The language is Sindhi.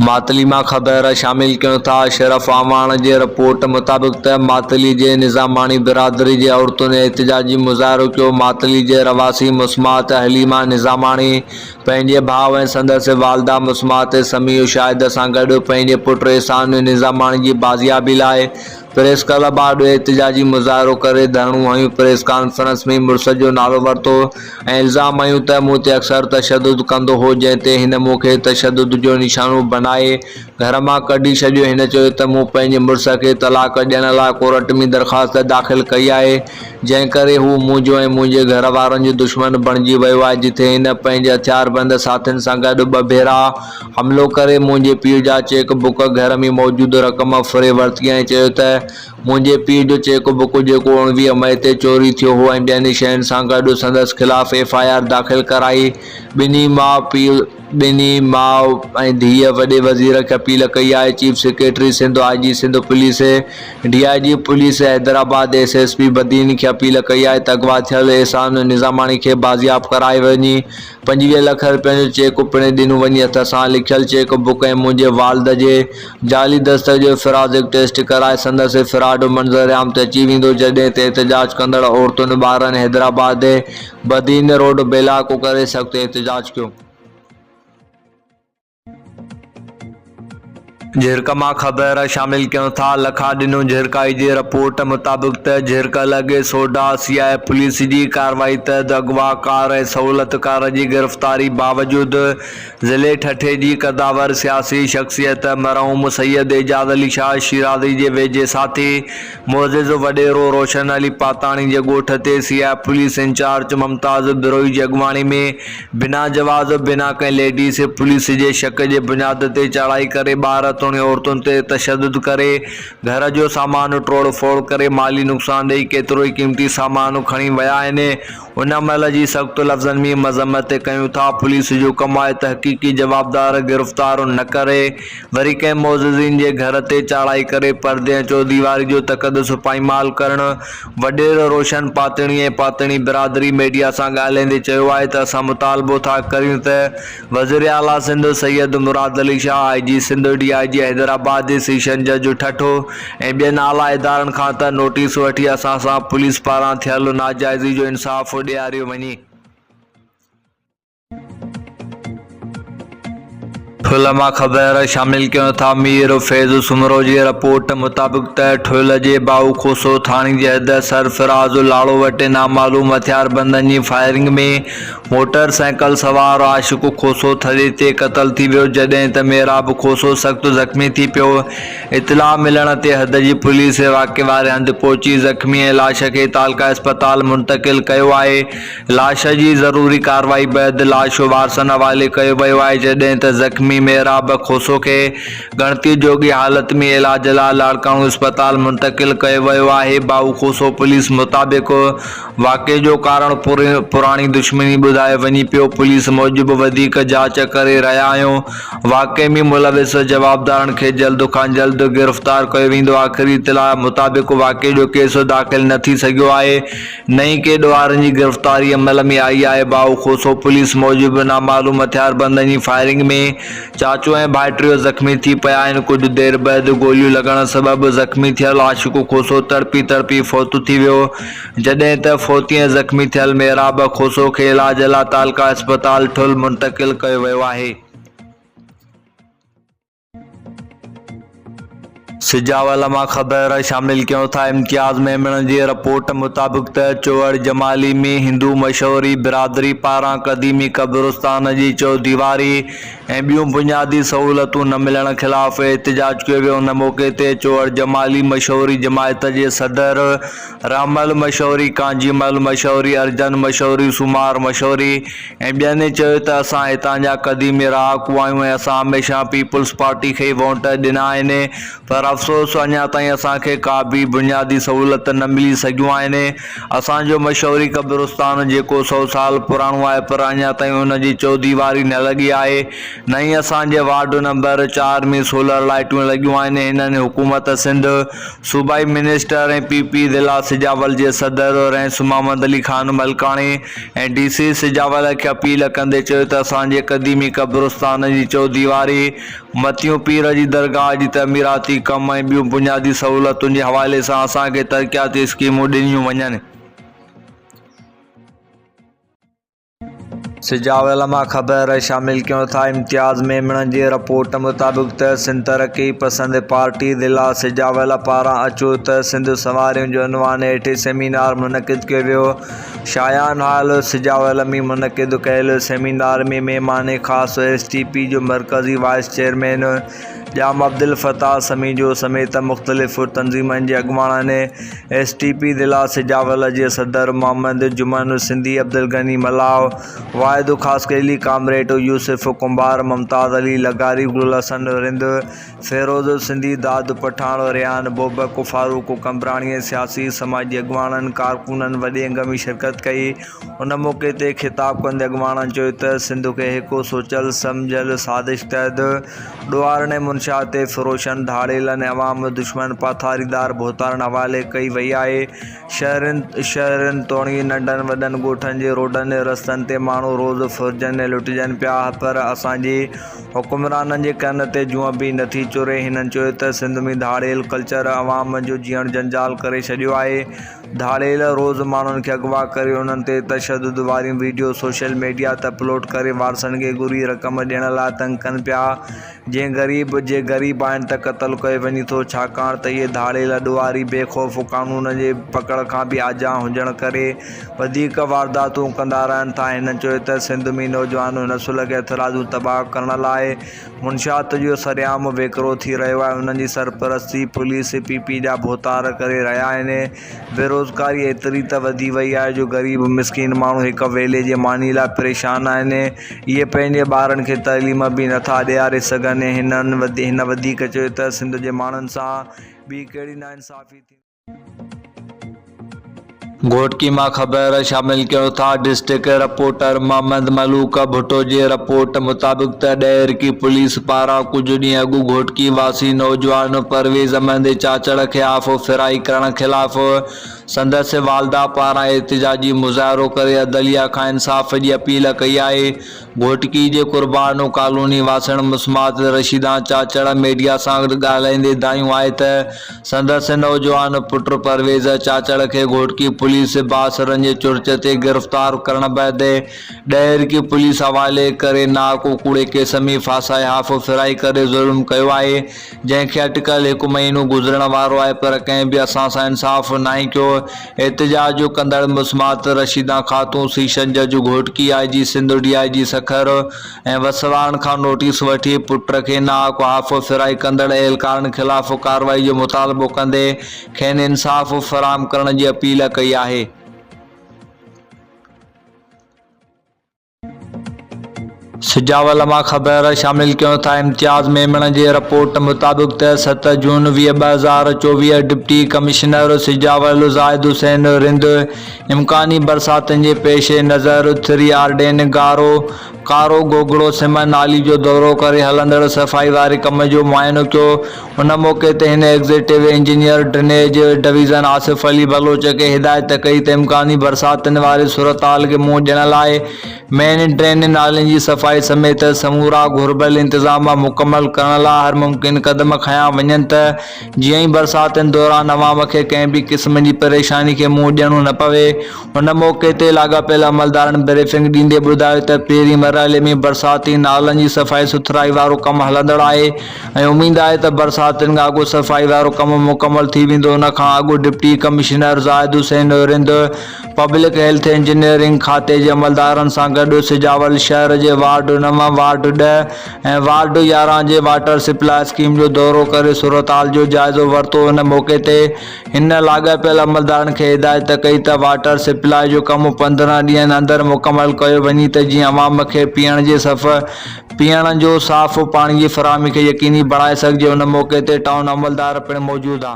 ماتلي مان خبر شامل ڪيون ٿا اشرف اعواڻ جي رپورٽ مطابق ته ماتلي جي نظاماڻي برادري جي عورتن احتجاجي مظاهرو ڪيو ماتلي جي رھواسي مسمات حليما نظاماڻي پنھنجي ڀاء ۽ سندس والده مسمات سميع شاهد سان گڏ پنھنجي پٽ احسان نظاماڻي جي بازيابي لاء پريس ڪلب آڏو احتجاجي مظاهرو ڪري ڌرڻو هنيو، پريس ڪانفرنس ۾ مڙس جو نالو ورتو ۽ الزام هنيو ته مون تي اڪثر تشدد ڪندو هو جنهن تي هن مون کي تشدد جو نشانو بنائي گهر مان ڪڍي ڇڏيو، هن چيو ته مون پنهنجي مڙس کي طلاق ڏيڻ لاء ڪورٽ ۾ درخواست داخل ڪئي آهي جنهن ڪري هو منهنجو ۽ منهنجي گهر وارن جو دشمن بڻجي ويو آهي جتي هن پنهنجي هٿياربند ساٿين سان گڏ ٻه ڀيرا حملو ڪري منهنجي پيء جا چيڪ بڪ، گهر ۾ موجود رقم ڦري ورتي ۽ چيو ته منهنجي پيء جو چيڪ بڪ جيڪو اوڻويهه مئي تي چوري ٿيو هو ۽ ٻين شين سان گڏ سندس خلاف ايف آء آر داخل ڪرائي ٻنهي ماء پيء ٻنهي ماء ۽ ڌيء وڏي وزير کي اپيل ڪئي آهي chief secretary Sindh I G Sindh police D I G police Hyderabad S S P Badin کي اپيل ڪئي آهي ته اغوا ٿيل احسان نظاماڻي کي بازياب ڪرائي وڃي پنجويهه لک رپين جو چيڪ پڻ ڏنو وڃي هٿ سان لکيل چيڪ بڪ ۽ منهنجي والد جي جعلي دستخط جو فرازڪ ٽيسٽ ڪرائي سندس فراڊ منظرعام تي اچي ويندو جڏهن تي احتجاج ڪندڙ عورتن ٻارن حيدرآباد جي بدين روڊ بيلاڪو ڪري سخت احتجاج ڪيو. جهرڪ مان خبر شامل ڪيون ٿا لکا ڏنو جهرڪائي جي رپورٽ مطابق ته جهرڪ لڳي سوڍا سي آء اي پوليس جي ڪارروائي تحت اغواڪار ۽ سهولتڪار جي گرفتاري باوجود ضلعي ٺٽي جي قدآور سياسي شخصيت مرحوم سيد اعجاز علي شاهه شيرازي جي ويجهي ساٿي معزز وڏيرو روشن علي پاتاڻي جي ڳوٺ تي C I police incharge Mumtaz Brohi جي اڳواڻي ۾ بنا جواز و بنا ڪنهن ليڊيس پوليس جي شڪ جي بنياد تي چڙهائي ڪري ٻار توڻي عورتن تي تشدد ڪري گهر جو سامان ٽوڙ ڦوڙ ڪري مالي نقصان ڏئي ڪيتروئي قيمتي سامان کڻي ويا آهن هن عمل جي سخت لفظن ۾ مذمت ڪيون ٿا پوليس جو ڪم آهي ته حقيقي جوابدار گرفتار نه ڪري وري ڪنهن معززين جي گهر تي چاڙهائي ڪري پردي ۽ چوديواري جو تقدس پائمال ڪرڻ وڏيرو روشن پاتڻي ۽ پاتڻي برادري ميڊيا سان ڳالهائيندي چيو آهي ته اسان مطالبو ٿا ڪريون ته وزير اعليٰ Sindh Syed Murad Ali Shah, I G Sindh, D I G Hyderabad, D C شنجهه جو ٺٽو ۽ ٻين اعليٰ ادارن کان ته نوٽيس وٺي اسان سان پوليس پاران ٿيل ناجائزي جو انصاف ڏياريو وڃي. ٺل مان خبر شامل ڪيون ٿا مير فيض سومرو جي رپورٽ مطابق ته ٺل جي ٻائو کوسو ٿاڻي جي حد سرفراز لاڙو وٽ نامعلوم هٿياربندن جي فائرنگ ۾ موٽر سائيڪل سوار عاشق کوسو ٿڙي تي قتل ٿي ويو، جڏهن ته محراب کوسو سخت زخمي ٿي پيو. اطلاع ملڻ تي حد جي پوليس واقعي واري هنڌ پهچي زخمي ۽ لاش کي تعلقه اسپتال منتقل ڪيو آهي. لاش جي ضروري ڪارروائي بعد لاش وارثن حوالي ڪيو ويو آهي، جڏهن ته زخمي محراب کوسو کي ڳڻتي جوڳي حالت ۾ علاج لاء لاڙڪاڻو اسپتال منتقل ڪيو ويو آهي. ڀائو کوسو پوليس مطابق واقعي جو ڪارڻ پراڻي دشمني ٻڌايو وڃي پيو، پوليس موجب وڌيڪ جاچ ڪري رهيا آهيون، واقعي ۾ ملوث جوابدارن کي جلد کان جلد گرفتار ڪيو ويندو، آخري اطلاع مطابق واقعي جو ڪيس داخل نه ٿي سگهيو آهي، نه ئي ڪي ڏوهارن جي گرفتاري عمل ۾ آئي آهي، باهو کوسو پوليس موجب نامعلوم هٿياربندن جي فائرنگ ۾ چاچو ۽ ڀائٽيو زخمي ٿي پيا آهن، ڪجهه دير بعد گوليون لڳڻ سبب زخمي ٿيل عاشق کوسو تڙپي تڙپي فوت ٿي ويو. جڏهن ته فوتي ۽ زخمي ٿيل محراب کوسو کي علاج لا تعلقه اسپتال ٺل منتقل ڪيو ويو آهي. سجاول مان خبر شامل ڪيون ٿا امتياز ميمڻ جي رپورٽ مطابق ته چوهڙ جمالي ۾ هندو مشهوري برادري پاران قديمي قبرستان جي چوديواري ۽ ٻيون بنيادي سهولتون نه ملڻ خلاف احتجاج ڪيو ويو ان موقعي تي چوهڙ جمالي مشهوري جماعت جي صدر رامل مشوري، ڪانجي مل مشوري، ارجن مشوري، سومار مشوري ۽ ٻين چيو ته اسان هتان جا قديمي رهاڪو آهيون ۽ اسان هميشه پيپلز پارٽي کي ئي وونٽ ڏنا آهن پر افسوس اڃا تائين اسان کي ڪا به بنيادي سهولت نه ملي سگهيون آهن اسان جو مشوري قبرستان جيڪو سو سال پراڻو آهي پر اڃا تائين ان جي چوديواري نه لڳي آهي نه ئي اسان جي وارڊ نمبر چار ۾ سولر لائيٽون لڳيون آهن هنن حڪومت سنڌ صوبائي منسٽر ۽ پي پي ضلع سجاول جي صدر رئيس محمد علي خان ملڪاڻي ۽ ڊي سي سجاول کي اپيل ڪندي چيو ته اسان جي قديمي قبرستان جي چوديواري، متيون پير جي درگاهه جي تعميراتي ڪم ۽ ٻيون بنيادي سهولتن جي حوالي سان اسان کي ترقياتي اسڪيمون ڏنيون وڃن. سجاء علماء خبر شامل ڪيون ٿا امتياز ميمڻ جي رپورٽ مطابق ته سنڌ ترقي پسند پارٽي ضلع سجاء علماء پاران اچو ته سنڌ سنواريون جو عنوان هيٺ سيمينار منعقد ڪيو ويو شايان هال سجاء علمي منعقد ڪيل سيمينار ۾ مهمان خاص ايس ٽي پي جو مرڪزي وائيس چيئرمين ڄام عبدالفتاح سميجو سميت مختلف تنظيمن جي اڳواڻن ۽ ايس ٽي پي ضلع سجاول جي صدر محمد جمن، سنڌي عبدالغني ملاح، واحد خاصخيلي، ڪامريڊ يوسف ڪنڀار، ممتاز علي لغاري، گلحسن رند، فيروز سنڌي، داد پٺاڻ، ريان بوبڪ، فاروق قمبراڻي ۽ سياسي سماجي اڳواڻن، ڪارڪنن وڏي انگ ۾ شرڪت ڪئي. ان موقعي تي خطاب ڪندي اڳواڻن چيو ته سنڌ کي هڪ سوچيل سمجهيل سازش تحت ڏوهارن ۽ منشياتي فروشن، ڌاڙيلن ۽ عوام دشمن پاٿاريدار ڀوتارن حوالي ڪئي وئي آهي، شهرين شهرين توڻي ننڍن وڏن ڳوٺن جي روڊن ۽ رستن تي ماڻهو روز ڦرجن ۽ لٽجن پيا پر اسان جي حڪمرانن جي ڪن تي جونء به نٿي چري، هنن چيو ته سنڌ ۾ ڌاڙيل ڪلچر عوام جو جيئڻ جنجال ڪري ڇڏيو آهي. ڌاڙيل روز ماڻهن کي اغوا ڪري انهن تي تشدد واريون وڊيو سوشل ميڊيا تي اپلوڊ ڪري وارثن کي گهري رقم ڏيڻ لاء تنگ ڪن پيا جي غريب جي غريب آهن ته قتل ڪيو وڃي ٿو ڇاڪاڻ ته اهي ڌاڙيل ڏوهاري بي خوف قانون جي پڪڙ کان به آجا هجڻ ڪري وڌيڪ وارداتون ڪندا رهن ٿا هن چيو ته سنڌ ۾ نوجوان هن سلهه کي هٿرادو تباهه ڪرڻ لاء منشيات جو سرعام ويڪرو ٿي رهيو آهي، انهن جي سرپرستي پوليس ۽ پي پي جا ڀوتار ڪري رهيا آهن. بيروزگاري ايتري ته وڌي وئي آهي جو غريب مسڪين ماڻهو هڪ ويلي جي ماني لاء پريشان آهن. اهي پنهنجي ٻارن کي تعليم به نه ٿا ڏياري سگهن. هن وڌيڪ چيو ته سنڌ جي ماڻهن سان ٻي ڪهڙي ناانصافي ٿيندي. گهوٽڪي مان خبر شامل ڪيو ٿا ڊسٽرڪٽ رپورٽر محمد ملوڪ ڀٽو جي رپورٽ مطابق ته ڏهرڪي پوليس پاران ڪجهه ڏينهن اڳ گهوٽڪي واسي نوجوان پرويز احمد چاچڙ کي آف ڦرائي ڪرڻ خلاف سندس والده پاران احتجاجي مظاهرو ڪري عدليه کان انصاف جي اپيل ڪئي آهي گهوٽڪي جي قربانو ڪالوني واسڻ مسمات رشيدان چاچڙا ميڊيا سان ڳالهائيندي دانهيون آهي ته سندس نوجوان پٽ پرويز چاچڙ کي گهوٽڪي پوليس باسرن جي چرچ تي گرفتار ڪرڻ بعد ڏهرڪي پوليس حوالي ڪري ناڪوڪوڙي ڪيس ۾ ڦاسائي هاڦ ڦرائي ڪري ظلم ڪيو آهي جنهن کي اٽڪل هڪ مهينو گذرڻ وارو آهي پر ڪنهن به اسان سان انصاف ناهي ڪيو، احتجاج ڪندڙ مسمات رشيده خاتون سيشن جج گهوٽڪي، آء جي سنڌ، ڊي آء جي سکر ۽ وسواڻ کان نوٽيس وٺي پٽ کي ناحق احافو ڦيرائي ڪندڙ اهلڪارن خلاف ڪارروائي جو مطالبو ڪندي کين انصاف فراهم ڪرڻ جي اپيل ڪئي آهي. سجاول مان خبر شامل ڪيون ٿا امتياز ميمڻ جي رپورٽ مطابق ته ست جون ويهه ٻه هزار چوويهه ڊپٽي ڪمشنر سجاول زاهد حسين رند امڪاني برساتن جي پيش نظر ٿري آرڊين گارو ڪارو گوگڙو سمن نالي جو دورو ڪري هلندڙ صفائي واري ڪم جو معائنو ڪيو ان موقعي تي هن executive engineer drainage division Asif Ali Baloch کي هدايت ڪئي ته امڪاني برساتن واري صورتحال کي منهن ڏيڻ لاء مين ڊرين نالين جي صفائي سميت سمورا گهربل انتظام مڪمل ڪرڻ لاء هر ممڪن قدم کنيا وڃن ته جيئن ئي برساتن دوران عوام کي ڪنهن به قسم جي پريشاني کي منهن ڏيڻو نه پوي ان موقعي تي لاڳاپيل عملدارن بريفنگ ڏيندي ٻڌايو ته پهرين مرحلي ۾ برساتي نالن جي صفائي سٿرائي وارو ڪم هلندڙ آهي ۽ اميد آهي ته برساتن کان اڳ صفائي وارو ڪم مڪمل ٿي ويندو ان کان اڳ deputy commissioner Zahid Hussain Rind public health engineering کاتي جي عملدارن سان گڏ سجاول شهر جي وارڊ نو وارڊ ڏهه ۽ وارڊ يارهن جي واٽر سپلاء اسڪيم جو دورو ڪري صورتحال جو جائزو ورتو ان موقعي تي هن لاڳاپيل عملدارن کي هدايت ڪئي ته واٽر سپلاء جو ڪم پندرهن ڏينهن اندر مڪمل ڪيو وڃي ته جيئن عوام کي پيئڻ جي صف پيئڻ جو صاف پاڻي جي فراهمي کي يقيني بڻائي سگهجي ان موقعي تي ٽائون عملدار پڻ موجود ها.